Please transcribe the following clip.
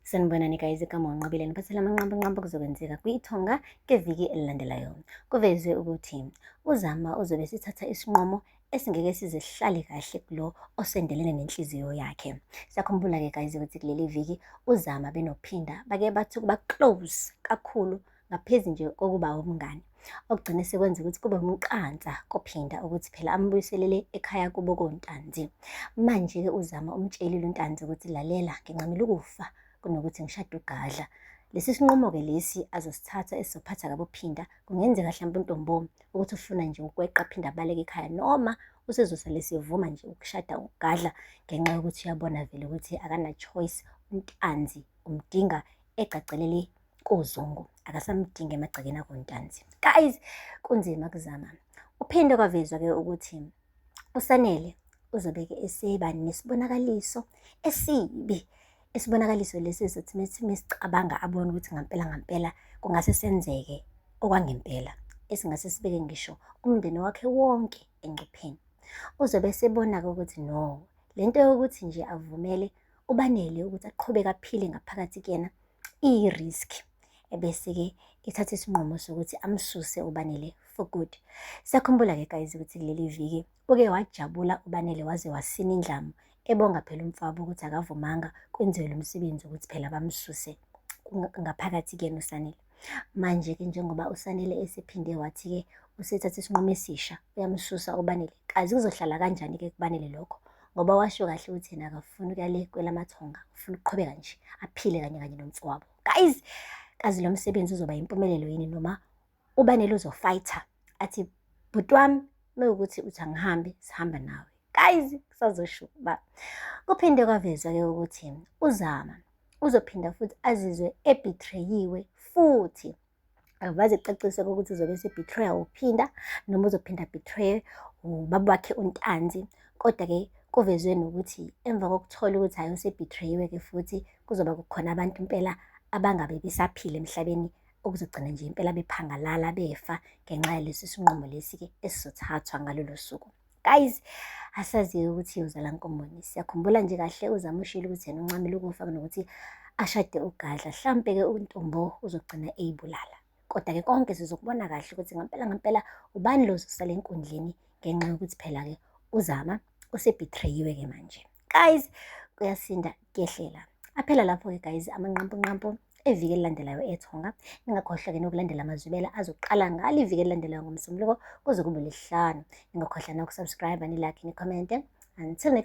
Sanibonani guys, igama unqabile niphathela amanqambo nqambo kuzokwenzeka kwiThonga ngeviki elilandelayo. Kuvezwe ukuthi uZama uzobe sithatha isinqumo esingeke sizihlale kahle kulo osendelene nenhliziyo yakhe. Sakhumbula-ke guys ukuthi kuleli viki uZama benophinda bake bathi ukuba close kakhulu ngaphezu nje kokuba umngane okugcine sekwenza ukuthi kube umqansa kophinda ukuthi phela ambuyiselele ekhaya kubo kontanzi manje-ke uzama umtshelile untanzi ukuthi lalela ngincamile ukufa kunokuthi ngishade ugadla lesi sinqumo-ke lesi azosithatha esizophatha kabophinda kungenzeka mhlawumbe untombomi ukuthi ufuna nje ukweqa phinde abaleke ekhaya noma usezosale sivuma nje ukushada ugadla ngenxa yokuthi uyabona vele ukuthi akana-choice untanzi umdinga egcagcelele koZungu akasamdingi emagcekeni akontanzi. Guys, kunzima kuzama. Uphinde kwavezwa ke ukuthi uSanele uzobeke eseba nesibonakaliso esibi isibonakaliso lesi sokuthi mesicabanga abone ukuthi ngampela ngampela kungase senzeke okwangempela esingase sibeke ngisho umndeni wakhe wonke engcupheni uzobe esebona-ke ukuthi no le nto yokuthi nje avumele ubanele ukuthi aqhubeke aphile ngaphakathi kuyena iyiriski ebese-ke ithatha isinqumo sokuthi amsuse ubanele for good sakhumbula-ke guys ukuthi kuleli viki uke wajabula ubanele waze wasina indlamu ebonga phela umfabo ukuthi akavumanga kwenziwe lo msebenzi ukuthi phela bamsuse ngaphakathi kuyena usanele manje-ke njengoba usanele esephinde wathi-ke usethatha isinqumo esisha uyamsusa ubanele kazi kuzohlala kanjani-ke kubanele lokho ngoba washo kahle ukuthi yena akafuni ukuyale kwelamathonga ufuna ukuqhubeka nje aphile kanye kanye nomfowabo guys kazi lo msebenzi uzoba yimpumelelo yini noma uba neluzofighter athi bhuti wami mewukuthi uthi angihambe sihamba nawe guys kusazosho uba kuphinde kwavezwa-ke ukuthi uzama uzophinda futhi azizwe ebithreyiwe futhi akuvaze kucaciswe ukuthi uzobe esebetrayer uphinda noma uzophinda betrayer ubaba wakhe untanzi kodwa-ke kuvezwe nokuthi emva kokuthola ukuthi hhayi usebetrayiwe-ke futhi kuzoba kukhona abantu impela abangabe besaphile emhlabeni okuzogcina nje impela bephangalala befa ngenxa yalesi sinqumo lesi-ke esizothathwa ngalolo suku guys asaziyo ukuthi uzala nkomboni siyakhumbula nje kahle uzama ushilo ukuthi yena uncamile ukufa kunokuthi ashade ugadla hlampe-ke untombo uzogcina eyibulala kodwa-ke konke sizokubona kahle ukuthi ngampela ngampela ubani lozosala enkundleni ngenxa yokuthi phela-ke uzama usebhitrayiwe-ke manje guys kuyasinda kuyehlela aphela lapho-ke guys amanqampunqampu eviki elilandelayo ethonga ningakhohlwa ke nokulandela amazwibela azoqala ngalo iviki elilandelayo ngomsombuluko kuze kube lesihlanu ningakhohlwa nokusubscribe nilike nikhomente until next